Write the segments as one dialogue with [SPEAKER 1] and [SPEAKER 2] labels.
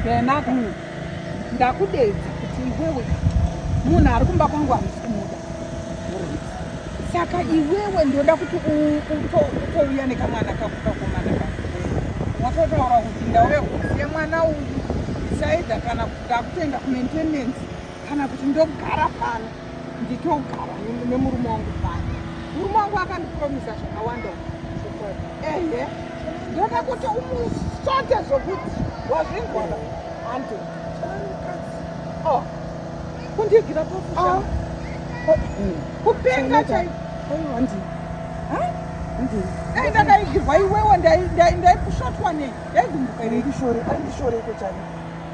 [SPEAKER 1] Benaka mm. ndakudedza kuti iwewe munhu ari kumba kwangu handisi kumuda saka iwewe ndoda kuti utouya nekamwana kako kakomana ka watotaura kuti ndauya kuziye mwana uyu saida kana kuti ndakutoenda kumaintenance kana kuti ndogara pano nditogara nemurume wangu pano murume wangu akandipromisa zvakawanda ehe ndoda kuti umusote zvokuti wazvinzwaa ande oh. kundigira pafusa ah. oh. kupenga chaiko dai ndakaigirwa iwewe ndaikusvotwa nei ndaigumbuka reikushore andishoreko chaiko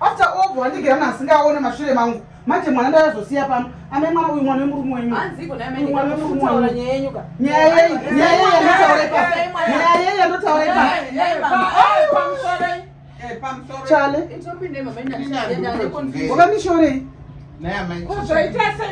[SPEAKER 1] after all bwandigera munhu asingaone mashure mangu manje mwana ndayazosiya pano ane mwana uyu mwana wemurume wenyuwakandishorei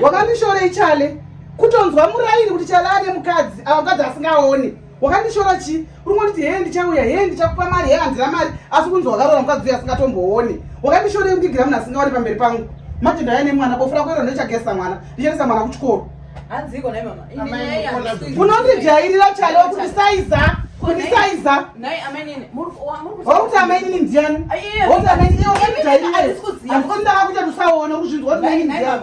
[SPEAKER 1] wakandishorei chale kutonzwa muraini kuti chale ane mukadzi ava mukadzi asingaone wakandishora chii uri kunditi hee ndichauya hee ndichakupa mari hee handina mari asi kunzi wakarora mukadzi uya asingatombooni wakandishorei kundigira munhu asingaoni pamberi pangu manje ndaya nemwana bofu rako iro ndochagesa mwana ndichaendesa mwana kuchikoro unondijairira chale kundisaiza kundisaiza wauti amainini ndiani wauti amainini iwe unondijairira andikondaka kuita tusaona kuzvinzwa kuti maini ndiani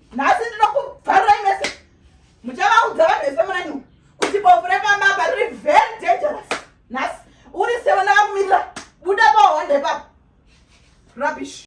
[SPEAKER 2] nhasi ndinokubvarirai mese muchavaudza vanhu vese murani kuti bofu repamaba riri very dangerous nhasi uri sewe ndakakumirira buda pahonde papa rubbish